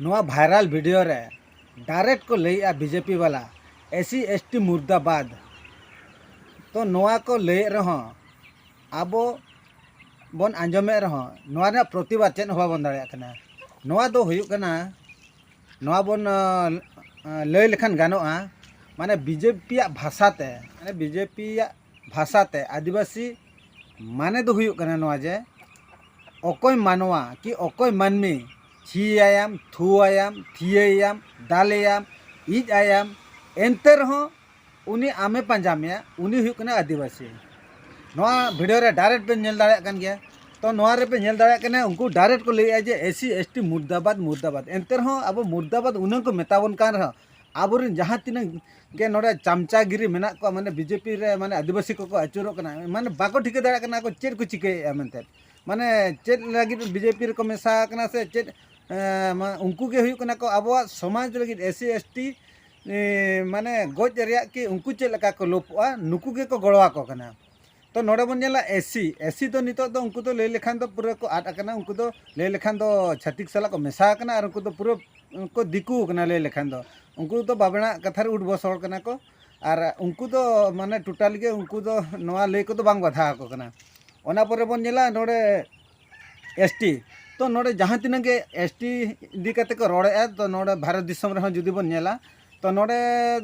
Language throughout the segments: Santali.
ᱱᱚᱣᱟ ᱵᱷᱟᱭᱨᱟᱞ ᱵᱷᱤᱰᱤᱭᱳ ᱨᱮ ᱰᱟᱭᱨᱮᱠᱴ ᱠᱚ ᱞᱟᱹᱭᱮᱫᱼᱟ ᱵᱤᱡᱮᱯᱤ ᱵᱟᱞᱟ ᱮᱥᱤ ᱮᱥᱴᱤ ᱢᱩᱨᱫᱟᱵᱟᱫᱽ ᱛᱚ ᱱᱚᱣᱟ ᱠᱚ ᱞᱟᱹᱭᱮᱫ ᱨᱮᱦᱚᱸ ᱟᱵᱚ ᱵᱚᱱ ᱟᱸᱡᱚᱢᱮᱫ ᱨᱮᱦᱚᱸ ᱱᱚᱣᱟ ᱨᱮᱱᱟᱜ ᱯᱨᱚᱛᱤᱵᱟᱫᱽ ᱪᱮᱫ ᱦᱚᱸ ᱵᱟᱵᱚᱱ ᱫᱟᱲᱮᱭᱟᱜ ᱠᱟᱱᱟ ᱱᱚᱣᱟ ᱫᱚ ᱦᱩᱭᱩᱜ ᱠᱟᱱᱟ ᱱᱚᱣᱟ ᱵᱚᱱ ᱞᱟᱹᱭ ᱞᱮᱠᱷᱟᱱ ᱜᱟᱱᱚᱜᱼᱟ ᱢᱟᱱᱮ ᱵᱤᱡᱮᱯᱤᱭᱟᱜ ᱵᱷᱟᱥᱟ ᱛᱮ ᱢᱟᱱᱮ ᱵᱤᱡᱮᱯᱤᱭᱟᱜ ᱵᱷᱟᱥᱟ ᱛᱮ ᱟᱹᱫᱤᱵᱟᱹᱥᱤ ᱢᱟᱱᱮ ᱫᱚ ᱦᱩᱭᱩᱜ ᱠᱟᱱᱟ ᱱᱚᱣᱟ ᱡᱮ ᱚᱠᱚᱭ ᱢᱟᱱᱣᱟ ᱠᱤ ᱚᱠᱚᱭ ᱢᱟᱹᱱᱢᱤ ᱪᱷᱤ ᱟᱭᱟᱢ ᱛᱷᱩ ᱟᱭᱟᱢ ᱛᱷᱤᱭᱟᱹ ᱮᱭᱟᱢ ᱫᱟᱞ ᱮᱭᱟᱢ ᱤᱡ ᱟᱭᱟᱢ ᱮᱱᱛᱮ ᱨᱮᱦᱚᱸ ᱩᱱᱤ ᱟᱢᱮ ᱯᱟᱸᱡᱟ ᱢᱮᱭᱟ ᱩᱱᱤ ᱦᱩᱭᱩᱜ ᱠᱟᱱᱟᱭ ᱟᱹᱫᱤᱵᱟᱹᱥᱤ ᱱᱚᱣᱟ ᱵᱷᱤᱰᱤᱭᱳ ᱨᱮ ᱰᱟᱭᱨᱮᱠᱴ ᱵᱮᱱ ᱧᱮᱞ ᱫᱟᱲᱮᱭᱟᱜ ᱠᱟᱱ ᱜᱮᱭᱟ ᱛᱚ ᱱᱚᱣᱟ ᱨᱮᱯᱮ ᱧᱮᱞ ᱫᱟᱲᱮᱭᱟᱜ ᱠᱟᱱᱟ ᱩᱱᱠᱩ ᱰᱟᱭᱨᱮᱠᱴ ᱠᱚ ᱞᱟᱹᱭᱮᱜᱼᱟ ᱡᱮ ᱮᱥᱤ ᱮᱥᱴᱤ ᱢᱩᱨᱫᱟᱵᱟᱫ ᱢᱩᱨᱫᱟᱵᱟᱫ ᱮᱱᱛᱮ ᱨᱮᱦᱚᱸ ᱟᱵᱚ ᱢᱩᱨᱫᱟᱵᱟᱫ ᱩᱱᱟᱹᱝ ᱠᱚ ᱢᱮᱛᱟ ᱵᱚᱱ ᱠᱟᱱ ᱨᱮᱦᱚᱸ ᱟᱵᱚᱨᱮᱱ ᱡᱟᱦᱟᱸ ᱛᱤᱱᱟᱹᱜ ᱜᱮ ᱱᱚᱰᱮ ᱪᱟᱢᱪᱟᱜᱤᱨᱤ ᱢᱮᱱᱟᱜ ᱠᱚᱣᱟ ᱢᱟᱱᱮ ᱵᱤᱡᱮᱯᱤ ᱨᱮ ᱢᱟᱱᱮ ᱟᱹᱫᱤᱵᱟᱹᱥᱤ ᱠᱚᱠᱚ ᱟᱹᱪᱩᱨᱚᱜ ᱠᱟᱱᱟ ᱢᱟᱱᱮ ᱵᱟᱠᱚ ᱴᱷᱤᱠᱟᱹ ᱫᱟᱲᱮᱭᱟᱜ ᱠᱟᱱᱟ ᱟᱠᱚ ᱪᱮᱫ ᱠᱚ ᱪᱤᱠᱟᱹᱭᱮᱫᱼᱟ ᱢᱮᱱᱛᱮ ᱢᱟᱱᱮ ᱪᱮᱫ ᱞᱟᱹᱜᱤᱫ ᱵᱤᱡᱮᱯᱤ ᱨᱮᱠᱚ ᱢᱮᱥᱟ ᱟᱠᱟᱱᱟ ᱥᱮ ᱪᱮᱫ ᱩᱱᱠᱩ ᱜᱮ ᱦᱩᱭᱩᱜ ᱠᱟᱱᱟ ᱠᱚ ᱟᱵᱚᱣᱟᱜ ᱥᱚᱢᱟᱡᱽ ᱞᱟᱹᱜᱤᱫ ᱮᱥ ᱥᱤ ᱮᱥ ᱴᱤ ᱢᱟᱱᱮ ᱜᱚᱡ ᱨᱮᱭᱟᱜ ᱠᱤ ᱩᱱᱠᱩ ᱪᱮᱫ ᱞᱮᱠᱟ ᱠᱚ ᱞᱳᱵᱷᱚᱜᱼᱟ ᱱᱩᱠᱩ ᱜᱮᱠᱚ ᱜᱚᱲᱚ ᱟᱠᱚ ᱠᱟᱱᱟ ᱛᱚ ᱱᱚᱰᱮ ᱵᱚᱱ ᱧᱮᱞᱟ ᱮᱥᱤ ᱮᱥᱤ ᱫᱚ ᱱᱤᱛᱚᱜ ᱫᱚ ᱩᱱᱠᱩ ᱫᱚ ᱞᱟᱹᱭ ᱞᱮᱠᱷᱟᱱ ᱫᱚ ᱯᱩᱨᱟᱹ ᱠᱚ ᱟᱫ ᱟᱠᱟᱱᱟ ᱩᱱᱠᱩ ᱫᱚ ᱞᱟᱹᱭ ᱞᱮᱠᱷᱟᱱ ᱫᱚ ᱪᱷᱟᱹᱛᱤᱠ ᱥᱟᱞᱟᱜ ᱠᱚ ᱢᱮᱥᱟ ᱟᱠᱟᱱᱟ ᱟᱨ ᱩᱱᱠᱩ ᱫᱚ ᱯᱩᱨᱟᱹ ᱠᱚ ᱫᱤᱠᱩ ᱟᱠᱟᱱᱟ ᱞᱟᱹᱭ ᱞᱮᱠᱷᱟᱱ ᱫᱚ ᱩᱱᱠᱩ ᱫᱚ ᱵᱟᱵᱮᱱᱟᱜ ᱠᱟᱛᱷᱟ ᱨᱮ ᱩᱰ ᱵᱚᱥ ᱦᱚᱲ ᱠᱟᱱᱟ ᱠᱚ ᱟᱨ ᱩᱱᱠᱩ ᱫᱚ ᱢᱟᱱᱮ ᱴᱳᱴᱟᱞ ᱜᱮ ᱩᱱᱠᱩ ᱫᱚ ᱱᱚᱣᱟ ᱞᱟᱹᱭ ᱠᱚᱫᱚ ᱵᱟᱝ ᱵᱟᱫᱷᱟ ᱟᱠᱚ ᱠᱟᱱᱟ ᱚᱱᱟ ᱯᱚᱨᱮ ᱵᱚᱱ ᱧᱮᱞᱟ ᱱᱚᱰᱮ ᱮᱥ ᱴᱤ ᱛᱚ ᱱᱚᱰᱮ ᱡᱟᱦᱟᱸ ᱛᱤᱱᱟᱹᱜ ᱜᱮ ᱮᱥ ᱴᱤ ᱤᱫᱤ ᱠᱟᱛᱮ ᱠᱚ ᱨᱚᱲᱮᱫᱼᱟ ᱛᱚ ᱱᱚᱰᱮ ᱵᱷᱟᱨᱚᱛ ᱫᱤᱥᱚᱢ ᱨᱮᱦᱚᱸ ᱡᱩᱫᱤ ᱵᱚᱱ ᱧᱮᱞᱟ ᱛᱚ ᱱᱚᱰᱮ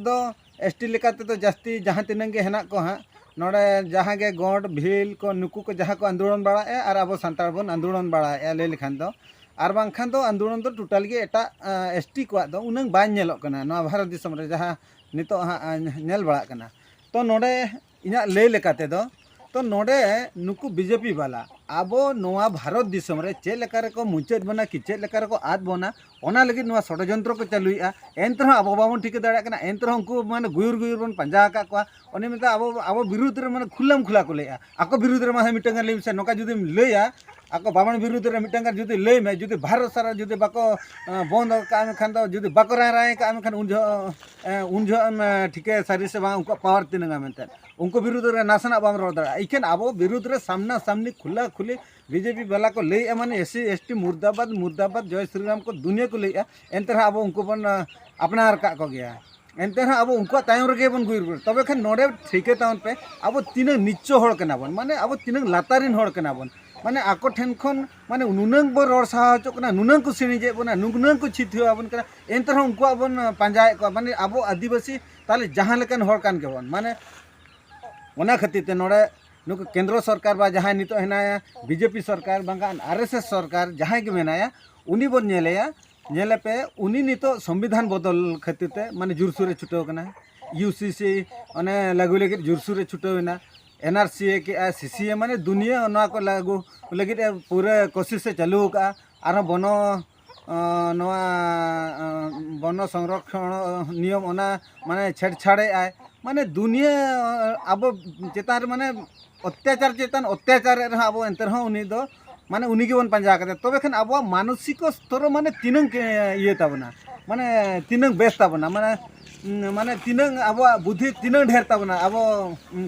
ᱫᱚ ᱮᱥ ᱴᱤ ᱞᱮᱠᱟ ᱛᱮᱫᱚ ᱡᱟᱹᱥᱛᱤ ᱡᱟᱦᱟᱸ ᱛᱤᱱᱟᱹᱝ ᱜᱮ ᱦᱮᱱᱟᱜ ᱠᱚ ᱦᱟᱸᱜ ᱱᱚᱰᱮ ᱡᱟᱦᱟᱸ ᱜᱮ ᱜᱚᱸᱰ ᱵᱷᱤᱞ ᱠᱚ ᱱᱩᱠᱩ ᱠᱚ ᱡᱟᱦᱟᱸ ᱠᱚ ᱟᱱᱫᱳᱞᱚᱱ ᱵᱟᱲᱟᱭᱮᱜᱼᱟ ᱟᱨ ᱟᱵᱚ ᱥᱟᱱᱛᱟᱲ ᱵᱚᱱ ᱟᱱᱫᱳᱞᱚᱱ ᱵᱟᱲᱟᱭᱮᱜᱼᱟ ᱞᱟᱹᱭ ᱞᱮᱠᱷᱟᱱ ᱫᱚ ᱟᱨ ᱵᱟᱝᱠᱷᱟᱱ ᱫᱚ ᱟᱱᱫᱳᱞᱚᱱ ᱫᱚ ᱴᱳᱴᱟᱞ ᱜᱮ ᱮᱴᱟᱜ ᱮᱥ ᱴᱤ ᱠᱚᱣᱟᱜ ᱫᱚ ᱩᱱᱟᱹᱝ ᱵᱟᱝ ᱧᱮᱞᱚᱜ ᱠᱟᱱᱟ ᱱᱚᱣᱟ ᱵᱷᱟᱨᱚᱛ ᱫᱤᱥᱚᱢ ᱨᱮ ᱡᱟᱦᱟᱸ ᱱᱤᱛᱚᱜ ᱦᱟᱸᱜ ᱧᱮᱞ ᱵᱟᱲᱟᱜ ᱠᱟᱱᱟ ᱛᱚ ᱱᱚᱰᱮ ᱤᱧᱟᱹᱜ ᱞᱟᱹᱭ ᱞᱮᱠᱟ ᱛᱮᱫᱚ ᱛᱚ ᱱᱚᱰᱮ ᱱᱩᱠᱩ ᱵᱤᱡᱮᱯᱤ ᱵᱟᱞᱟ ᱟᱵᱚ ᱱᱚᱣᱟ ᱵᱷᱟᱨᱚᱛ ᱫᱤᱥᱚᱢ ᱨᱮ ᱪᱮᱫ ᱞᱮᱠᱟ ᱨᱮᱠᱚ ᱢᱩᱪᱟᱹᱫ ᱵᱚᱱᱟ ᱠᱤ ᱪᱮᱫ ᱞᱮᱠᱟ ᱨᱮᱠᱚ ᱟᱫ ᱵᱚᱱᱟ ᱚᱱᱟ ᱞᱟᱹᱜᱤᱫ ᱱᱚᱣᱟ ᱥᱚᱰᱚᱡᱚᱱᱛᱨᱚ ᱠᱚ ᱪᱟᱹᱞᱩᱭᱮᱜᱼᱟ ᱮᱱᱛᱮ ᱨᱮᱦᱚᱸ ᱟᱵᱚ ᱵᱟᱵᱚᱱ ᱴᱷᱤᱠᱟᱹ ᱫᱟᱲᱮᱭᱟᱜ ᱠᱟᱱᱟ ᱮᱱᱛᱮ ᱨᱮᱦᱚᱸ ᱩᱱᱠᱩ ᱢᱟᱱᱮ ᱜᱩᱭᱩᱨ ᱜᱩᱭᱩᱨ ᱵᱚᱱ ᱯᱟᱸᱡᱟ ᱟᱠᱟᱫ ᱠᱚᱣᱟ ᱩᱱᱤ ᱢᱮᱱᱫᱟ ᱟᱵᱚ ᱟᱵᱚ ᱵᱤᱨᱩᱫᱷ ᱨᱮ ᱢᱟᱱᱮ ᱠᱷᱩᱞᱟᱢ ᱠᱷᱩᱞᱟ ᱠᱚ ᱞᱟᱹᱭᱮᱜᱼᱟ ᱟᱠᱚ ᱵᱤᱨᱩᱫᱷ ᱨᱮ ᱢᱟ ᱦᱮᱸ ᱢᱤᱫᱴᱟᱝ ᱜᱟᱱ ᱞᱟᱹᱭ ᱢᱮᱥᱮ ᱱᱚᱝᱠᱟ ᱡᱩᱫᱤᱢ ᱞᱟᱹᱭᱟ ᱟᱠᱚ ᱵᱟᱵᱚᱱ ᱵᱤᱨᱩᱫᱷ ᱨᱮ ᱢᱤᱫᱴᱟᱝ ᱜᱟᱱ ᱡᱩᱫᱤ ᱞᱟᱹᱭ ᱢᱮ ᱡᱩᱫᱤ ᱵᱷᱟᱨᱚᱛ ᱥᱟᱨᱟ ᱡᱩᱫᱤ ᱵᱟᱠᱚ ᱵᱚᱱᱫ ᱠᱟᱜᱼᱟ ᱢᱮᱱᱠᱷᱟᱱ ᱫᱚ ᱡᱩᱫᱤ ᱵᱟᱠᱚ ᱨᱟᱭ ᱨᱟᱭ ᱠᱟᱜᱼᱟ ᱢᱮᱱᱠᱷᱟᱱ ᱩᱱ ᱡᱚᱦᱚᱜ ᱩᱱ ᱡᱚᱦᱚᱜ ᱮᱢ ᱴᱷᱤᱠᱟᱹᱭᱟ ᱥᱟᱹᱨᱤ ᱥᱮ ᱵᱟᱝ ᱩᱱᱠᱩᱣᱟᱜ ᱯᱟᱣᱟᱨ ᱛᱤᱱᱟᱹᱜᱟ ᱢᱮᱱᱛᱮ ᱩᱱᱠᱩ ᱵᱤᱨᱩᱫᱷ ᱨᱮ ᱱᱟᱥᱮᱱᱟᱜ ᱵᱟᱢ ᱨᱚᱲ ᱫᱟᱲᱮᱭᱟᱜᱼᱟ ᱤᱠᱷᱟᱹᱱ ᱟᱵᱚ ᱵᱤᱨᱩᱫᱷ ᱨᱮ ᱥᱟᱢᱱᱟ ᱥᱟᱢᱱᱤ ᱠᱷᱩᱞᱟ ᱠᱷᱩᱞᱤ ᱵᱤᱡᱮᱯᱤ ᱵᱟᱞᱟ ᱠᱚ ᱞᱟᱹᱭᱮᱜᱼᱟ ᱢᱟᱱᱮ ᱮᱥ ᱥᱤ ᱮᱥ ᱴᱤ ᱢᱩᱨᱫᱟᱵᱟᱫᱽ ᱢᱩᱨᱫᱟᱵᱟᱫᱽ ᱡᱚᱭ ᱥᱨᱤᱨᱟᱢ ᱠᱚ ᱫᱩᱱᱤᱭᱟᱹ ᱠᱚ ᱞᱟᱹᱭᱮᱜᱼᱟ ᱮᱱᱛᱮ ᱨᱮᱦᱚᱸ ᱟᱵᱚ ᱩᱱᱠᱩ ᱵᱚᱱ ᱟᱯᱱᱟᱨ ᱠᱟᱜ ᱠᱚᱜᱮᱭᱟ ᱮᱱᱛᱮ ᱨᱮᱦᱚᱸ ᱟᱵᱚ ᱩᱱᱠᱩᱣᱟᱜ ᱛᱟᱭᱚᱢ ᱨᱮᱜᱮ ᱵᱚᱱ ᱜᱩᱭᱩᱨ ᱜᱩᱭᱩᱨ ᱛᱚᱵᱮ ᱠᱷᱟᱱ ᱱᱚᱰᱮ ᱴᱷᱤᱠᱟᱹ ᱛᱟᱵᱚᱱ ᱯᱮ ᱟᱵᱚ ᱛᱤᱱᱟᱹᱜ ᱱᱤᱪᱪᱚ ᱦᱚᱲ ᱠᱟᱱᱟ ᱵᱚᱱ ᱢᱟᱱᱮ ᱟᱵᱚ ᱛᱤᱱᱟᱹᱜ ᱞᱟᱛᱟᱨ ᱨᱮᱱ ᱦᱚᱲ ᱠᱟᱱᱟ ᱵᱚᱱ ᱢᱟᱱᱮ ᱟᱠᱚ ᱴᱷᱮᱱ ᱠᱷᱚᱱ ᱢᱟᱱᱮ ᱱᱩᱱᱟᱹᱝ ᱵᱚᱱ ᱨᱚᱲ ᱥᱟᱦᱟ ᱦᱚᱪᱚᱜ ᱠᱟᱱᱟ ᱱᱩᱱᱟᱹᱝ ᱠᱚ ᱥᱤᱬᱤᱡᱮᱫ ᱵᱚᱱᱟ ᱱᱩᱱᱟᱹᱝ ᱠᱚ ᱪᱷᱤᱛ ᱦᱩᱭᱩᱜ ᱟᱵᱚᱱ ᱠᱟᱱᱟ ᱮᱱᱛᱮ ᱨᱮᱦᱚᱸ ᱩᱱᱠᱩᱣᱟᱜ ᱵᱚᱱ ᱯᱟᱸᱡᱟᱭᱮᱫ ᱠᱚᱣᱟ ᱢᱟᱱᱮ ᱟᱵᱚ ᱟᱹᱫᱤᱵᱟᱹᱥᱤ ᱛᱟᱦᱚᱞᱮ ᱡᱟᱦᱟᱸ ᱞᱮᱠᱟᱱ ᱦᱚᱲ ᱠᱟᱱ ᱜᱮᱵᱚᱱ ᱢᱟᱱᱮ ᱚᱱᱟ ᱠᱷᱟᱹᱛᱤᱨ ᱛᱮ ᱱᱚᱰᱮ ᱱᱩᱠᱩ ᱠᱮᱱᱫᱨᱚ ᱥᱚᱨᱠᱟᱨ ᱵᱟ ᱡᱟᱦᱟᱸᱭ ᱱᱤᱛᱚᱜ ᱦᱮᱱᱟᱭᱟ ᱵᱤᱡᱮᱯᱤ ᱥᱚᱨᱠᱟᱨ ᱵᱟᱝᱠᱷᱟᱱ ᱟᱨ ᱮᱥ ᱮᱥ ᱥᱚᱨᱠᱟᱨ ᱡᱟᱦᱟᱸᱭ ᱜᱮ ᱢᱮᱱᱟᱭᱟ ᱩᱱᱤ ᱵᱚᱱ ᱧᱮᱞᱮᱭᱟ ᱧᱮᱞᱮᱯᱮ ᱩᱱᱤ ᱱᱤᱛᱚᱜ ᱥᱚᱝᱵᱤᱫᱷᱟᱱ ᱵᱚᱫᱚᱞ ᱠᱷᱟᱹᱛᱤᱨ ᱛᱮ ᱢᱟᱱᱮ ᱡᱳᱨᱥᱳᱨᱮ ᱪᱷᱩᱴᱟᱹᱣ ᱠᱟᱱᱟ ᱤᱭᱩ ᱥᱤ ᱥᱤ ᱚᱱᱮ ᱞᱟᱹᱜᱩ ᱞᱟᱹᱜᱤᱫ ᱡᱳᱨᱥᱳᱨᱮ ᱪᱷᱩᱴᱟᱹᱣ ᱮᱱᱟ ᱮᱱ ᱟᱨ ᱥᱤ ᱮ ᱠᱮᱜᱼᱟ ᱥᱤ ᱥᱤ ᱮ ᱢᱟᱱᱮ ᱫᱩᱱᱤᱭᱟᱹ ᱱᱚᱣᱟ ᱠᱚ ᱞᱟᱹᱜᱩ ᱞᱟᱹᱜᱤᱫ ᱮ ᱯᱩᱨᱟᱹ ᱠᱳᱥᱤᱥᱮ ᱪᱟᱹᱞᱩ ᱟᱠᱟᱜᱼᱟ ᱟᱨᱦᱚᱸ ᱵᱚᱱᱚ ᱱᱚᱣᱟ ᱵᱚᱱᱚ ᱥᱚᱝᱨᱚᱠᱷᱚᱱ ᱱᱤᱭᱚᱢ ᱚᱱᱟ ᱢᱟᱱᱮ ᱪᱷᱮᱲᱪᱷᱟᱲᱮᱜ ᱟᱭ ᱢᱟᱱᱮ ᱫᱩᱱᱤᱭᱟᱹ ᱟᱵᱚ ᱪᱮᱛᱟᱱ ᱨᱮ ᱢᱟᱱᱮ ᱚᱛᱛᱟᱪᱟᱨ ᱪᱮᱛᱟᱱ ᱚᱛᱛᱟᱪᱟᱨᱮᱫ ᱨᱮᱦᱚᱸ ᱟᱵᱚ ᱮᱱᱛᱮ ᱨᱮᱦᱚᱸ ᱩᱱᱤ ᱫᱚ ᱢᱟᱱᱮ ᱩᱱᱤ ᱜᱮᱵᱚᱱ ᱯᱟᱸᱡᱟ ᱟᱠᱟᱫᱮ ᱛᱚᱵᱮ ᱠᱷᱟᱱ ᱟᱵᱚᱣᱟᱜ ᱢᱟᱱᱚᱥᱤᱠ ᱥᱛᱚᱨ ᱢᱟᱱᱮ ᱛᱤᱱᱟᱹᱝ ᱤᱭᱟᱹ ᱛᱟᱵᱚᱱᱟ ᱢᱟᱱᱮ ᱛᱤᱱᱟᱹᱝ ᱵᱮᱥ ᱛᱟᱵᱚᱱᱟ ᱢᱟᱱᱮ ᱢᱟᱱᱮ ᱛᱤᱱᱟᱹᱝ ᱟᱵᱚᱣᱟᱜ ᱵᱩᱫᱷᱤ ᱛᱤᱱᱟᱹᱝ ᱰᱷᱮᱨ ᱛᱟᱵᱚᱱᱟ ᱟᱵᱚ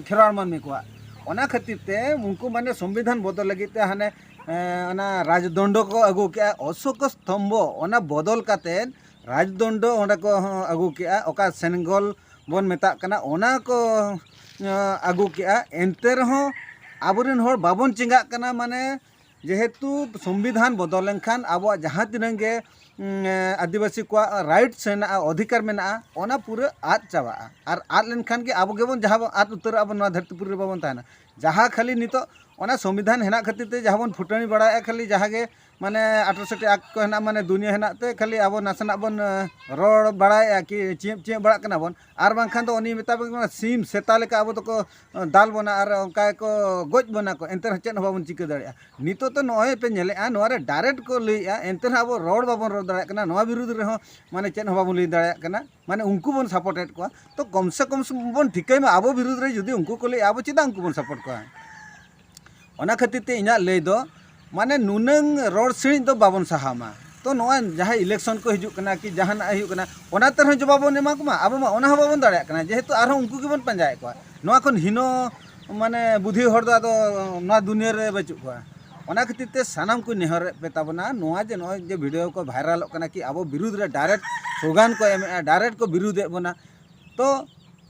ᱠᱷᱮᱨᱣᱟᱲ ᱢᱟᱹᱱᱢᱤ ᱠᱚᱣᱟᱜ ᱚᱱᱟ ᱠᱷᱟᱹᱛᱤᱨ ᱛᱮ ᱩᱱᱠᱩ ᱢᱟᱱᱮ ᱥᱚᱝᱵᱤᱫᱷᱟᱱ ᱵᱚᱫᱚᱞ ᱞᱟᱹᱜᱤᱫ ᱛᱮ ᱦᱟᱱᱮ ᱚᱱᱟ ᱨᱟᱡᱽᱫᱚᱱᱰᱚ ᱠᱚ ᱟᱹᱜᱩ ᱠᱮᱜᱼᱟ ᱚᱥᱳᱠ ᱥᱛᱚᱢᱵᱷᱚ ᱚᱱᱟ ᱵᱚᱫᱚᱞ ᱠᱟᱛᱮᱫ ᱨᱟᱡᱽᱫᱚᱱᱰᱚ ᱚᱸᱰᱮ ᱠᱚ ᱟᱹᱜᱩ ᱠᱮᱜᱼᱟ ᱚᱠᱟ ᱥᱮᱱᱜᱚᱞ ᱵᱚᱱ ᱢᱮᱛᱟᱜ ᱠᱟᱱᱟ ᱚᱱᱟ ᱠᱚ ᱟᱹᱜᱩ ᱠᱮᱜᱼᱟ ᱮᱱᱛᱮ ᱨᱮᱦᱚᱸ ᱟᱵᱚ ᱨᱮᱱ ᱦᱚᱲ ᱵᱟᱵᱚᱱ ᱪᱮᱸᱜᱷᱟᱜ ᱠᱟᱱᱟ ᱢᱟᱱᱮ ᱡᱮᱦᱮᱛᱩ ᱥᱚᱝᱵᱤᱫᱷᱟᱱ ᱵᱚᱫᱚᱞ ᱞᱮᱱᱠᱷᱟᱱ ᱟᱵᱚᱣᱟᱜ ᱡᱟᱦᱟᱸ ᱛᱤᱱᱟᱹᱝ ᱜᱮ ᱟᱹᱫᱤᱵᱟᱹᱥᱤ ᱠᱚᱣᱟᱜ ᱨᱟᱭᱤᱴᱥ ᱦᱮᱱᱟᱜᱼᱟ ᱚᱫᱷᱤᱠᱟᱨ ᱢᱮᱱᱟᱜᱼᱟ ᱚᱱᱟ ᱯᱩᱨᱟᱹ ᱟᱫ ᱪᱟᱵᱟᱜᱼᱟ ᱟᱨ ᱟᱫ ᱞᱮᱱᱠᱷᱟᱱ ᱜᱮ ᱟᱵᱚ ᱜᱮᱵᱚᱱ ᱡᱟᱦᱟᱸ ᱵᱚᱱ ᱟᱫ ᱩᱛᱟᱹᱨᱚᱜᱼᱟ ᱵᱚᱱ ᱱᱚᱣᱟ ᱫᱷᱟᱹᱨᱛᱤ ᱯᱩᱨᱤ ᱨᱮ ᱵᱟᱵᱚᱱ ᱛᱟᱦᱮᱱᱟ ᱡᱟᱦᱟᱸ ᱠᱷᱟᱹᱞᱤ ᱱᱤᱛᱚᱜ ᱚᱱᱟ ᱥᱚᱝᱵᱤᱫᱷᱟᱱ ᱦᱮᱱᱟᱜ ᱠᱷᱟᱹᱛᱤᱨ ᱛᱮ ᱡᱟᱦᱟᱸ ᱵᱚᱱ ᱯᱷᱩᱴᱟᱹᱱᱤ ᱵᱟᱲᱟᱭᱮᱜᱼᱟ ᱠᱷᱟᱹᱞᱤ ᱡᱟᱦᱟᱸ ᱜᱮ ᱢᱟᱱᱮ ᱟᱴᱨᱚᱥᱤᱴᱤ ᱟᱠᱴ ᱠᱚ ᱦᱮᱱᱟᱜ ᱢᱟᱱᱮ ᱫᱩᱱᱤᱭᱟᱹ ᱦᱮᱱᱟᱜ ᱛᱮ ᱠᱷᱟᱹᱞᱤ ᱟᱵᱚ ᱱᱟᱥᱮᱱᱟᱜ ᱵᱚᱱ ᱨᱚᱲ ᱵᱟᱲᱟᱭᱮᱜᱼᱟ ᱠᱤ ᱪᱮᱫ ᱪᱮᱫ ᱵᱟᱲᱟᱜ ᱠᱟᱱᱟ ᱵᱚᱱ ᱟᱨ ᱵᱟᱝᱠᱷᱟᱱ ᱫᱚ ᱩᱱᱤ ᱢᱮᱛᱟ ᱵᱚᱱ ᱠᱟᱱᱟ ᱥᱤᱢ ᱥᱮᱛᱟ ᱞᱮᱠᱟ ᱟᱵᱚ ᱫᱚᱠᱚ ᱫᱟᱞ ᱵᱚᱱᱟ ᱟᱨ ᱚᱱᱠᱟ ᱜᱮᱠᱚ ᱜᱚᱡ ᱵᱚᱱᱟ ᱠᱚ ᱮᱱᱛᱮ ᱨᱮᱦᱚᱸ ᱪᱮᱫ ᱦᱚᱸ ᱵᱟᱵᱚᱱ ᱪᱤᱠᱟᱹ ᱫᱟᱲᱮᱭᱟᱜᱼᱟ ᱱᱤᱛᱳᱜ ᱫᱚ ᱱᱚᱜᱼᱚᱭ ᱯᱮ ᱧᱮᱞᱮᱜᱼᱟ ᱱᱚᱣᱟ ᱨᱮ ᱰᱟᱭᱨᱮᱠᱴ ᱠᱚ ᱞᱟᱹᱭᱮᱜᱼᱟ ᱮᱱᱛᱮ ᱨᱮᱦᱚᱸ ᱟᱵᱚ ᱨᱚᱲ ᱵᱟᱵᱚᱱ ᱨᱚᱲ ᱫᱟᱲᱮᱭᱟᱜ ᱠᱟᱱᱟ ᱱᱚᱣᱟ ᱵᱤᱨᱩᱫᱷ ᱨᱮᱦᱚᱸ ᱢᱟᱱᱮ ᱪᱮᱫ ᱦᱚᱸ ᱵᱟᱵᱚᱱ ᱞᱟᱹᱭ ᱫᱟᱲᱮᱭᱟᱜ ᱠᱟᱱᱟ ᱢᱟᱱᱮ ᱩᱱᱠᱩ ᱵᱚᱱ ᱥᱟᱯᱳᱨᱴᱮᱫ ᱠᱚᱣᱟ ᱛᱚ ᱠᱚᱢ ᱥᱮ ᱠᱚᱢ ᱵᱚᱱ ᱴᱷᱤᱠᱟᱹᱭ ᱢᱟ ᱟᱵᱚ ᱵᱤᱨᱩᱫᱷ ᱨᱮ ᱡᱩᱫᱤ ᱩᱱᱠᱩ ᱠᱚ ᱞᱟᱹᱭᱮᱜᱼᱟ ᱟᱵᱚ ᱪᱮᱫᱟᱜ ᱩᱱᱠᱩ ᱵᱚᱱ ᱥᱟᱯᱳᱨᱴ ᱠᱚᱣᱟ ᱚᱱᱟ ᱠᱷᱟᱹᱛᱤᱨ ᱛᱮ ᱤᱧᱟᱹᱜ ᱞᱟᱹᱭ ᱫᱚ ᱢᱟᱱᱮ ᱱᱩᱱᱟᱹᱝ ᱨᱚᱲ ᱥᱤᱬᱤᱡ ᱫᱚ ᱵᱟᱵᱚᱱ ᱥᱟᱦᱟᱣ ᱢᱟ ᱛᱚ ᱱᱚᱣᱟ ᱡᱟᱦᱟᱸ ᱤᱞᱮᱠᱥᱚᱱ ᱠᱚ ᱦᱤᱡᱩᱜ ᱠᱟᱱᱟ ᱠᱤ ᱡᱟᱦᱟᱱᱟᱜ ᱦᱩᱭᱩᱜ ᱠᱟᱱᱟ ᱚᱱᱟ ᱛᱮᱦᱚᱸ ᱡᱚᱵᱟᱵᱽ ᱵᱚᱱ ᱮᱢᱟ ᱠᱚᱢᱟ ᱟᱵᱚ ᱢᱟ ᱚᱱᱟ ᱦᱚᱸ ᱵᱟᱵᱚᱱ ᱫᱟᱲᱮᱭᱟᱜ ᱠᱟᱱᱟ ᱡᱮᱦᱮᱛᱩ ᱟᱨᱦᱚᱸ ᱩᱱᱠᱩ ᱜᱮᱵᱚᱱ ᱯᱟᱸᱡᱟᱭᱮᱫ ᱠᱚᱣᱟ ᱱᱚᱣᱟ ᱠᱷᱚᱱ ᱦᱤᱱᱚ ᱢᱟᱱᱮ ᱵᱩᱫᱷᱤ ᱦᱚᱲ ᱫᱚ ᱟᱫᱚ ᱱᱚᱣᱟ ᱫᱩᱱᱤᱭᱟᱹ ᱨᱮ ᱵᱟᱹᱪᱩᱜ ᱠᱚᱣᱟ ᱚᱱᱟ ᱠᱷᱟᱹᱛᱤᱨ ᱛᱮ ᱥᱟᱱᱟᱢ ᱠᱚ ᱱᱮᱦᱚᱨᱮᱫ ᱯᱮ ᱛᱟᱵᱚᱱᱟ ᱱᱚᱣᱟ ᱡᱮ ᱱᱚᱜᱼᱚᱭ ᱡᱮ ᱵᱷᱤᱰᱤᱭᱳ ᱠᱚ ᱵᱷᱟᱭᱨᱟᱞᱚᱜ ᱠᱟᱱᱟ ᱠᱤ ᱟᱵᱚ ᱵᱤᱨᱩᱫᱷ ᱨᱮ ᱰᱟᱭᱨᱮᱠᱴ ᱥᱞᱳᱜᱟᱱ ᱠᱚ ᱮᱢᱮᱜᱼᱟ ᱰᱟᱭᱨᱮᱠᱴ ᱠᱚ ᱵᱤᱨᱩᱫᱷᱮᱫ ᱵᱚᱱᱟ ᱛᱚ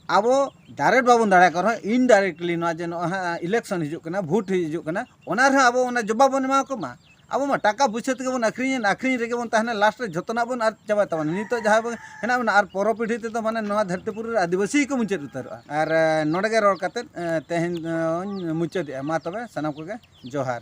ᱟᱵᱚ ᱰᱟᱭᱨᱮᱠᱴ ᱵᱟᱵᱚᱱ ᱫᱟᱲᱮᱭᱟᱜ ᱠᱟᱱ ᱨᱮᱦᱚᱸ ᱤᱱᱰᱟᱭᱨᱮᱠᱴᱞᱤ ᱱᱚᱣᱟ ᱡᱮ ᱱᱚᱜᱼᱚᱭ ᱦᱟᱸᱜ ᱤᱞᱮᱠᱥᱚᱱ ᱦᱤᱡᱩᱜ ᱠᱟᱱᱟ ᱵᱷᱳᱴ ᱦᱤᱡᱩᱜ ᱠᱟᱱᱟ ᱚᱱᱟ ᱨᱮᱦᱚᱸ ᱟᱵᱚ ᱚᱱᱟ ᱡᱚᱵᱟᱵ ᱵᱚᱱ ᱮᱢᱟ ᱠᱚ ᱢᱟ ᱟᱵᱚ ᱢᱟ ᱴᱟᱠᱟ ᱯᱩᱭᱥᱟᱹ ᱛᱮᱜᱮ ᱵᱚᱱ ᱟᱹᱠᱷᱨᱤᱧᱮᱫ ᱟᱹᱠᱷᱨᱤᱧ ᱨᱮᱜᱮ ᱵᱚᱱ ᱛᱟᱦᱮᱱᱟ ᱞᱟᱥᱴ ᱨᱮ ᱡᱚᱛᱚᱱᱟᱜ ᱵᱚᱱ ᱟᱫ ᱪᱟᱵᱟᱭ ᱛᱟᱵᱚᱱᱟ ᱱᱤᱛᱚᱜ ᱡᱟᱦᱟᱸ ᱵᱚᱱ ᱦᱮᱱᱟᱜ ᱵᱚᱱᱟ ᱟᱨ ᱯᱚᱨᱚ ᱯᱤᱲᱦᱤ ᱛᱮᱫᱚ ᱢᱟᱱᱮ ᱱᱚᱣᱟ ᱫᱷᱟᱹᱨᱛᱤ ᱯᱩᱨᱤ ᱨᱮ ᱟᱹᱫᱤᱵᱟᱹᱥᱤ ᱜᱮᱠᱚ ᱢᱩᱪᱟᱹᱫ ᱩᱛᱟᱹᱨᱚᱜᱼᱟ ᱟᱨ ᱱᱚᱰᱮ ᱜᱮ ᱨᱚᱲ ᱠᱟᱛᱮ ᱛᱮᱦᱮᱧ ᱫᱚᱧ ᱢᱩᱪᱟᱹᱫᱮᱜᱼᱟ ᱢᱟ ᱛᱚᱵᱮ ᱥᱟᱱᱟᱢ ᱠᱚᱜᱮ ᱡᱚᱦᱟᱨ